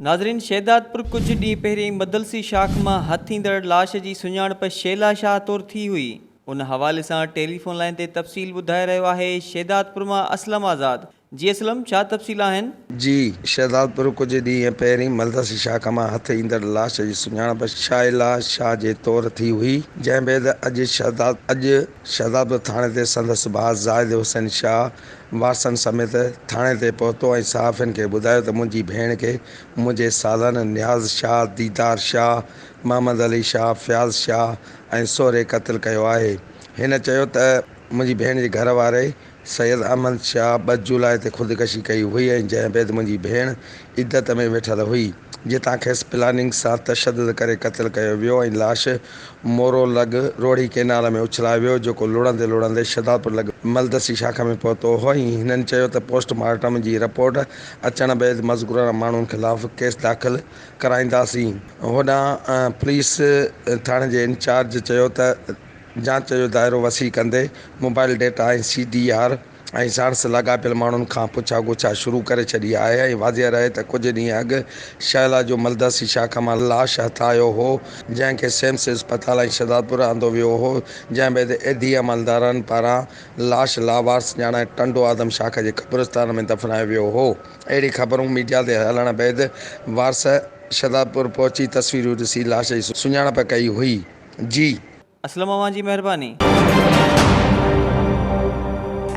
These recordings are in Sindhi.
ناظرين شهدادپور ڪجهه ڏينهن پهرين مدلسي شاخ مان هٿ ايندڙ لاش جي سڃاڻپ شيلا شاهه طور ٿي هئي ان حوالي سان ٽيليفون لائين تي تفصيل ٻڌائي رهيو آهي شهدادپور مان اسلم آزاد جي اسلم ڇا تفصيل آهن. جي شهدادپور ڪجهه ڏينهن پهرين مدلسي شاخ مان هٿ ايندڙ لاش جي سڃاڻپ شيلا شاهه جي طور ٿي هئي جنهن بعد اڄ شهداد اڄ. شهدادپور ٿاڻي تي سندس ڀاء زاهد حسين شاهه وارثن سميت ٿاڻي تي پهتو ۽ صحافين کي ٻڌايو ته منهنجي ڀيڻ کي منهنجي سالن نياز شاهه، ديدار شاهه، محمد علي شاهه، فياض شاهه ۽ سهري قتل ڪيو آهي. هن چيو ته منهنجي ڀيڻ جي گهر واري، سيد احمد شاهه ٻه جولاء تي خودڪشي ڪئي هئي ۽ جنهن بيد منهنجي ڀيڻ عدت ۾ ويٺل هئي، جتان کيس پلاننگ سان تشدد ڪري قتل ڪيو ويو ۽ لاش مورو لڳ روهڙي ڪئنال ۾ اڇلايو ويو، جيڪو لڙندي لڙندي شهدادپور لڳ ملدسي شاخ ۾ پهتو هو ۽ هنن چيو ته پوسٽ مارٽم جي رپورٽ اچڻ بيد مذڪوره ماڻهن خلاف ڪيس داخل ڪرائينداسين. هوڏانهن پوليس ٿاڻي جي انچارج چيو ته. جاچ جو دائرو وسيع ڪندي mobile data ۽ C D R ۽ ساڻس لاڳاپيل ماڻهن کان پڇا ڳوڇا شروع ڪري ڇڏي آهي ۽ واضح رهي ته ڪجهه ڏينهن اڳ شهلا جو ملداسي شاخ مان لاش هٿ آيو هو جنهن کي سيمس اسپتال ۽ شهدادپور آندو ويو هو جنهن بعد ايڌي عملدارن پاران لاش لاوارث ڄاڻائي ٽنڊو آدم شاخ جي قبرستان ۾ دفنايو ويو هو اهڙي خبرون ميڊيا تي هلڻ بعد وارث شهدادپور پهچي تصويرون ڏسي لاش جي سڃاڻپ ڪئي هئي. جي. اسلم اوهان جي مهرباني.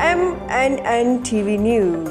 M N N T V news.